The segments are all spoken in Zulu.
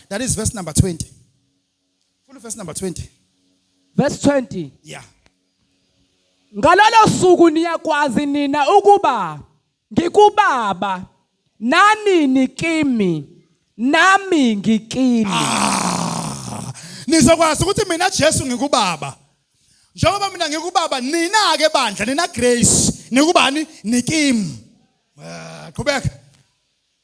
That is verse number 20. Full verse number 20. Verse 20. Yeah. Ngalolo suku niyakwazi nina ukuba ngikubaba nani nikimi nami ngikini. Ah, nizokwazi ukuthi mina Jesu ngikubaba. Njengoba mina ngikubaba nina ke bandla nina Grace nikubani nikimi. Ah, qhubeka.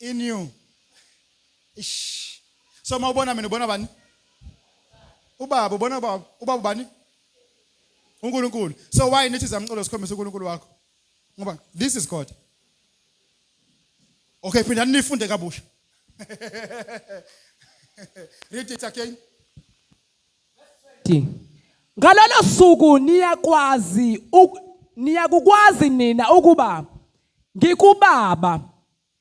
in you ish so mawubona mina ubona bani ubaba ubona ubaba ubaba ubani uNkulunkulu so why nithi zamcolo sikhombisa uNkulunkulu wakho ngoba this is god okay phinda nifunde kabusha read it again ngalolo suku niyakwazi niyakukwazi nina ukuba ngikubaba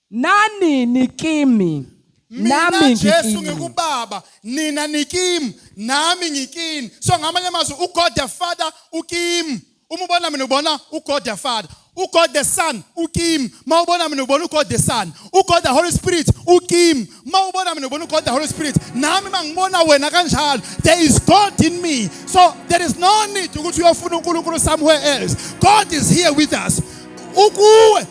nani nikimi nami mina Jesu ngikubaba nina nikimi nami ngikini so ngamanye amazwi uGod the Father ukimi uma ubona mina ubona uGod the Father uGod the Son ukimi mawubona mina ubona uGod the Son uGod the Holy Spirit ukimi uma ubona mina ubona ugod the holy spirit nami uma ngibona wena kanjalo there is god in me so there is no need ukuthi uyofuna unkulunkulu somewhere else god is here with us ukuwe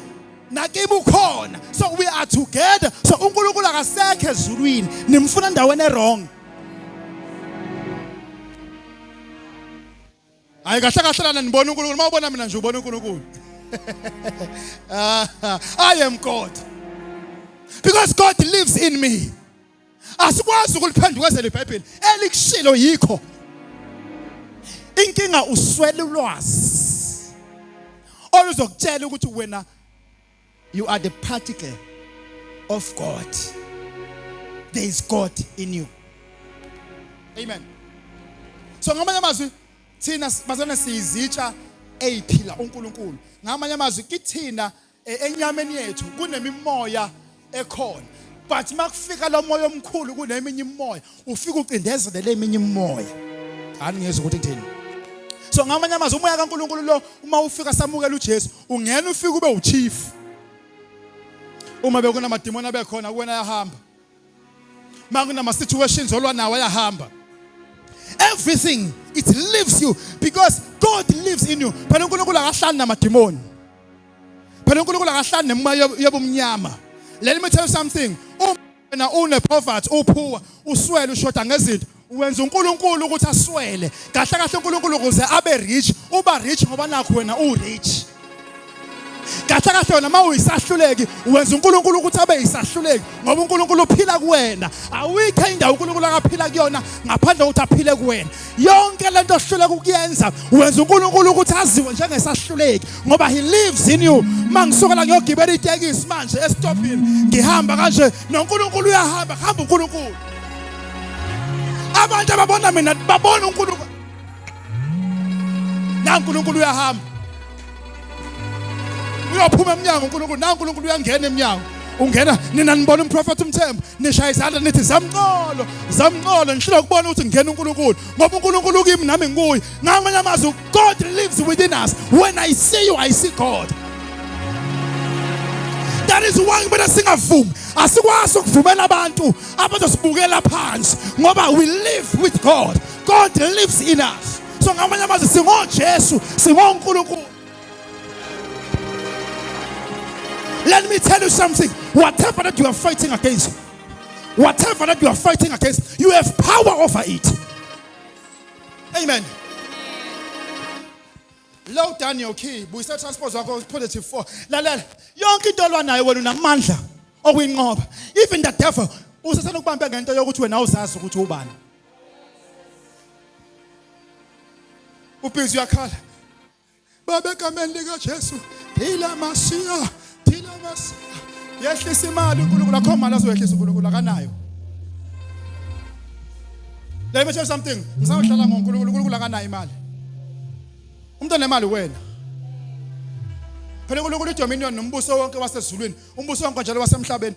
nakibe ukhona so we are together so unkulunkulu akasekho ezulwini nimfuna endaweni erong Hayi kahle kahle lana nibona uNkulunkulu uma ubona mina nje ubona uNkulunkulu. I am God. Because God lives in me. Asikwazi ukuliphendukazela iBhayibheli elikushilo yikho. Inkinga uswela ulwazi. Oluzokutshela ukuthi wena You are the particle of God. There is God in you. Amen. So ngamanye amazwi thina bazana siyizitsha eyiphila uNkulunkulu. Ngamanye amazwi kithina e, enyameni yethu kunemimoya ekhona. But makufika lo moya omkhulu kuneminye imoya ufike ucindezelele eminye imimoya ani ngezwe ukuthi ngithini so ngamanye amazwi umoya kaNkuluNkulu lo uma ufika samukela uJesu ungena ufike ube uchief uma bekunamadimoni abekhona kuwena yahamba makunama situations olwa nawo ayahamba everything it leaves you because God lives in you phela uNkulunkulu akahlali namadimoni phela uNkulunkulu akahlali nemoya yobumnyama let me tell you something wena une poverty uphuwa uswele ushoda ngezinto wenza uNkulunkulu ukuthi aswele kahle kahle uNkulunkulu ukuze abe rich uba rich ngoba nakho wena u rich kahle kahle wena uma uyisahluleki wenza uNkulunkulu ukuthi abe yisahluleki ngoba uNkulunkulu uphila kuwena awuyikho indawo uNkulunkulu akaphila kuyona ngaphandle kokuthi aphile kuwena yonke lento ohluleka ukuyenza wenza uNkulunkulu ukuthi aziwe njengesahluleki ngoba he lives in you mangisuka la ngiyogibela itekisi manje esitopini ngihamba kanje noNkulunkulu uyahamba hamba uNkulunkulu abantu ababona mina babona uNkulunkulu na uNkulunkulu uyahamba uyophuma emnyango uNkulunkulu na uNkulunkulu uyangena emnyango ungena nina nibona umprofethi umthembu nishaya izandla nithi zamqolo zamqolo ngishilo kubona ukuthi ngingena uNkulunkulu ngoba uNkulunkulu kimi nami ngikuye ngamanye amazwi God lives within us when I see you I see God that is why kumele singavumi asikwazi ukuvumela abantu abazosibukela phansi ngoba we live with God God lives in us so ngamanye amazwi singojesu singonkulunkulu let me tell you something whatever that you are fighting against whatever that you are fighting against you have power over it amen low down your key buyisa transpose wakho positive 4 lalela yonke into olwanayo wena unamandla okuyinqoba even the devil usesenokubambe ngento yokuthi wena awuzazi ukuthi ubani ubhizi uyakhala baba egameni likajesu thila masiya thila masiya yehlisa imali unkulunkulu akho mali azoyehlisa unkulunkulu akanayo let me tell you something ngisayohlala ngonkulunkulu unkulunkulu akanayo imali umuntu onemali wena phela unkulunkulu idominion nombuso wonke wasezulwini umbuso wonke njalo wasemhlabeni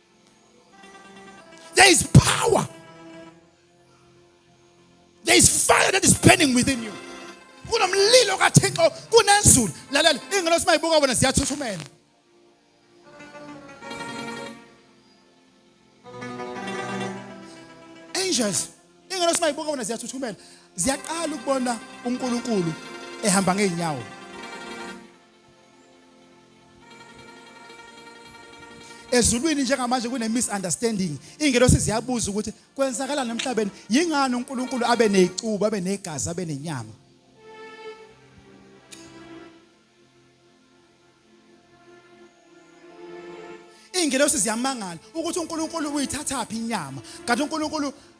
There is power. There is fire that is burning within you. Kunomlilo kaThixo kunezulu. Lalela, ingelo simayibuka bona siyathuthumela. Angels, ingelo simayibuka bona siyathuthumela. Ziyaqala ukubona uNkulunkulu ehamba ngeenyawo. ezulwini njengamanje kune-misunderstanding iy'ngelosi ziyabuza ukuthi kwenzakalani emhlabeni yingani unkulunkulu abe ney'cubo abe negazi abe nenyama iy'ngelosi ziyamangala ukuthi unkulunkulu uyithathaphi inyama kanti unkulunkulu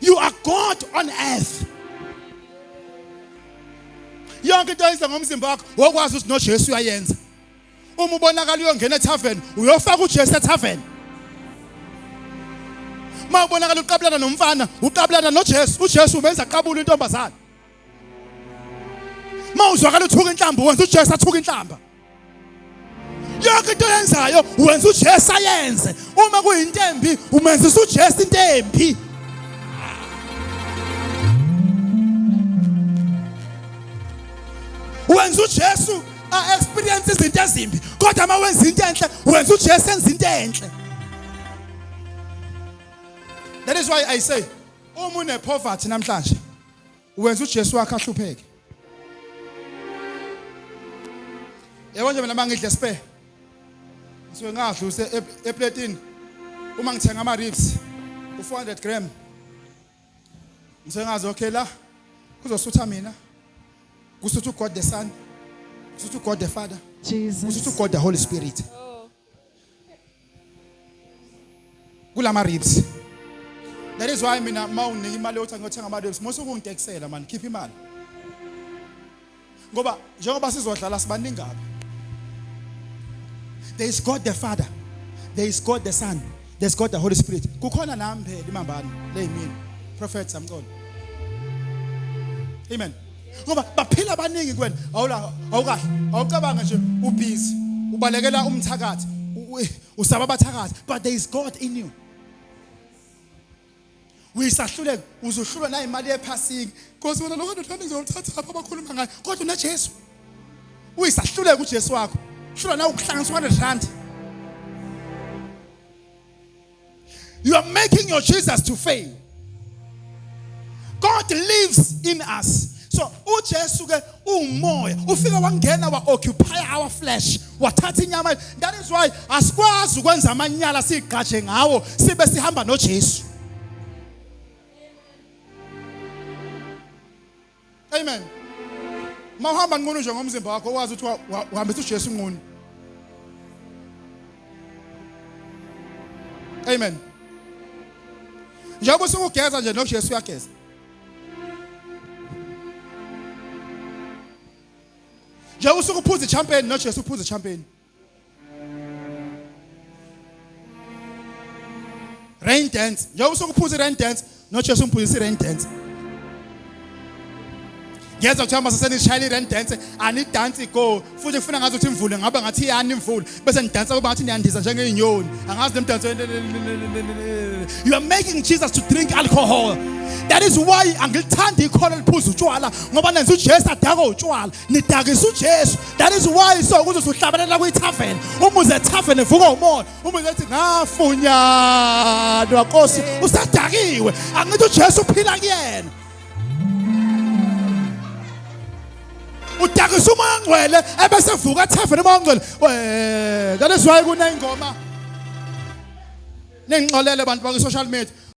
You are God on earth. Yonke into oyenza ngomzimba wakho wokwazi ukuthi noJesu uyayenza. Uma ubonakala uyongena etavern, uyofaka uJesu etavern. Uma ubonakala uqabulana nomfana, uqabulana noJesu, uJesu umenza qabula intombazana. mawuzwakala uthuka inhlamba wenza uJesu athuka inhlamba yonke into yenzayo wenza uJesu ayenze uma kuyinto embi umenzisa uJesu into embi wenza uJesu a experience izinto ezimbi kodwa uma wenza into enhle wenza uJesu enza into enhle that is why i say uma une poverty namhlanje uwenza uJesu wakhe ahlupheke yebo nje mina mangidle spare ngisuke ngadla use e-, eplatini uma ngithenga ama ribs u400 gram ngisuke ngazi okay la kuzosutha mina kusuthu God the son kusuthu God the father Jesus kusuthu God the holy spirit kulama ribs that is why mina mawunika imali yokuthi ngiyothenga ama ribs mose ukungitekisela mani khipha imali ngoba njengoba sizodlala sibaningi apha there is god the father there is god the son there is god the holy spirit kukhona nami phela imambane leyimini prophet samqondo amen ngoba baphila abaningi kuwena awula awukahle awucabanga nje ubhizi ubalekela umthakathi usaba abathakathi but there is god in you uyisahluleka uzohlulwa nayo imali yephasiki nkosi wena lokho ndothanda ngizolithatha lapha abakhuluma ngayo kodwa unajesu uyisahluleka ujesu wakho hlula na ukuhlanganiswa nerandi You are making your Jesus to fail. God lives in us. So uJesu ke umoya ufika wangena wa occupy our flesh wathatha inyama that is why asikwazi ukwenza amanyala sigqaje ngawo sibe sihamba noJesu Amen. Mawuhamba nqunu nje ngomzimba wakho wazi ukuthi uhambisa uJesu nqunu. Amen. Njengoba usukugeza nje noJesu uyageza. Njengoba usukuphuza ichampagne noJesu uphuza ichampagne. Rain dance. Njengoba usuke uphuza i-rain dance, noJesu umphuzisa i-rain dance. ngeza kuthiwa mase senishayela i-rand dance anidansi go futhi kufuna ngazi ukuthi imvule ngaba ngathi iyani imvule bese nidansa kuba ngathi niyandiza njengey'nyoni angazi le mdanso you are making jesus to drink alcohol that is why angilithandi ikhona liphuza utshwala ngoba nenza ujesu adakwe utshwala nidakisa ujesu That is why so kuze usuhlabelela kwi tavern. Uma uze tavern evuka umoya. Uma uze ethi ngafunyanwa Nkosi usadakiwe. Angithi uJesu uphila kuyena. udakisa umoya ngcwele ebese vuka tavern umoya ngcwele we that is why kunengoma nengixolele bantu bakwi social media